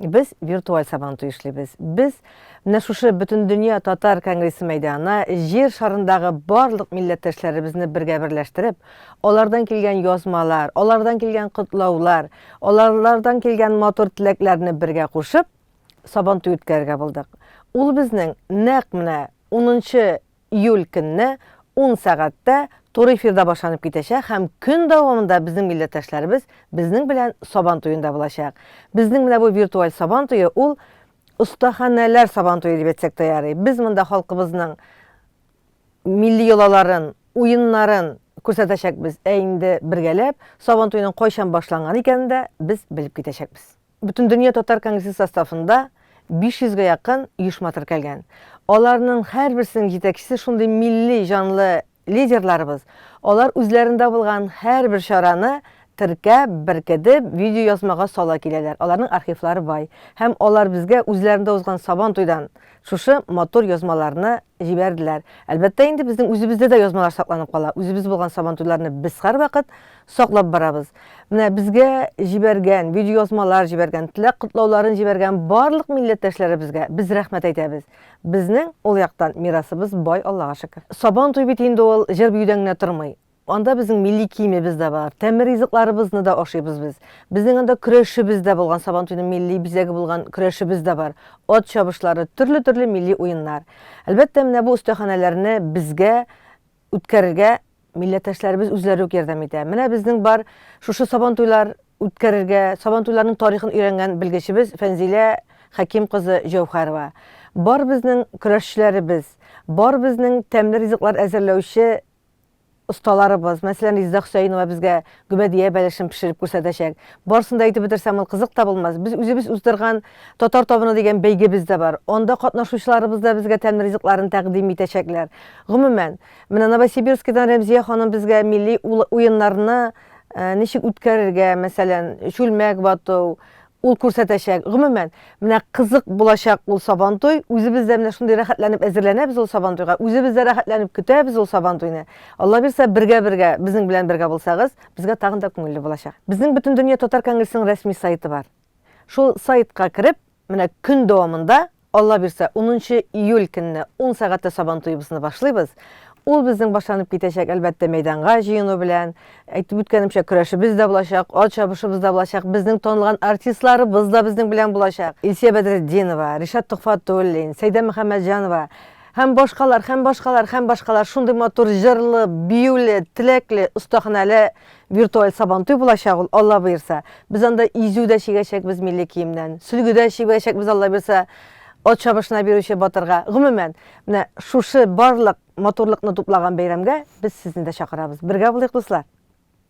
Без виртуаль Сабантуй эшлибез. Без менә шушы Бөтендөнья татар конгрессы мәйданына җир шарындагы барлык милләттәшләребезне бергә берләштереп, алардан килгән язмалар, алардан килгән котлаулар, аларлардан килгән матур теләкләрне бергә кушып, Сабантуй үткәрергә булдык. Ул безнең нәкъ менә 10 Июль көнне ун сәгатьтә туры эфирда башланып китәчәк һәм көн дәвамында безнең милләттәшләребез безнең белән Сабан туенда булачак. Безнең менә бу виртуаль Сабан туе ул остаханәләр Сабан туе дип әйтсәк тә ярый. Без монда халкыбызның милли йолаларын, уеннарын күрсәтәчәкбез, ә инде бергәләп Сабан туеның кайчан башланган икәнен дә без белеп китәчәкбез. Бөтендөнья татар конгрессы составында 500 гә якын оешма теркәлгән. Аларның һәрберсенең җитәкчесе шундый милли җанлы лидерларыбыз. Алар үзләрендә булган һәрбер чараны теркәп, беркедеп, видеоязмага сала киләләр. Аларның архивлары бай. Һәм алар безгә үзләрендә узган Сабан туйдан шушы матур язмаларны җибәрделәр. Әлбәттә инде, безнең үзебездә дә язмалар сакланып кала. Үзебез булган Сабан туйларны без һәрвакыт Саклап барабыз. Менә безгә җибәргән, видеоязмалар җибәргән, теләк котлауларын җибәргән барлык милләттәшләребезгә без рәхмәт әйтәбез. Безнең ул яктан мирасыбыз бай Аллага шөкер. Сабан туй бит инде ул җыр-биюдән генә тормый. Анда безнең милли киемебез дә бар, тәмле ризыкларыбызны да ашыйбыз без. Безнең анда көрәшебез дә булган, сабан туйның милли бизәге булган көрәшебез дә бар. Ат чабышлары, төрле-төрле милли уеннар. Әлбәттә, менә бу остәханәләрне безгә үткәрергә милләттәшләребез үзләре үк ярдәм итә. Менә безнең бар шушы сабантуйлар үткәрергә, сабантуйларның тарихын өйрәнгән белгечебез Фәнзилә Хәким кызы Җәүхәрова. Бар безнең көрәшчеләребез, бар безнең тәмле ризыклар әзерләүче осталарыбыз, мәсәлән, Резеда Хөсәенова безгә Гөбәдия бәлешен пешереп күрсәтәчәк. Барысын да әйтеп бетерсәм, ул кызык та булмас. Без үзебез уздырган Татар табыны дигән бәйгебез дә бар. Анда катнашучыларыбыз да безгә тәмле ризыкларын тәкъдим итәчәкләр. Гомумән, менә Новосибирскидан Рәмзия ханым безгә милли уеннарны ничек үткәрергә, мәсәлән, чүлмәк вату, Ул күрсәтәчәк. Гомумән, менә кызык булачак ул Сабантуй. Үзебез дә менә шундый рәхәтләнеп әзерләнәбез ул Сабантуйга. Үзебез дә рәхәтләнеп көтәбез ул Сабантуйны. Алла бирса, бергә-бергә, безнең белән бергә булсагыз, безгә тагын да күңелле булачак. Безнең Бөтендөнья татар конгрессының рәсми сайтыбар. Шул сайтка кереп, менә көн дәвамында, Алла бирсә, унынчы июль көнне ун сәгатьтә сабантуебызны башлыйбыз. Ул безнең башланып китәчәк, әлбәттә, мәйданга җыену белән. Әйтеп үткәнемчә, көрәшебез дә булачак, ат чабышыбыз да булачак, безнең танылган артистларыбыз да безнең белән булачак, Илсөя Бәдретдинова, Ришат Төхфәтуллин, Сәйдә Мөхәммәтҗанова һәм башкалар, һәм башкалар, һәм башкалар, шундый матур җырлы, биюле, теләкле, остаханәле Виртуаль Сабантуй булачак ул, Алла боерса. Без анда изү дә чигәчәкбез милли киемнән, сөлге дә чибәчәкбез, Алла бирса, ат чабышына бирүче батырга. Гомумән, менә шушы барлык матурлыкны туплаган бәйрәмгә без сезне дә чакырабыз. Бергә булыйк, дуслар!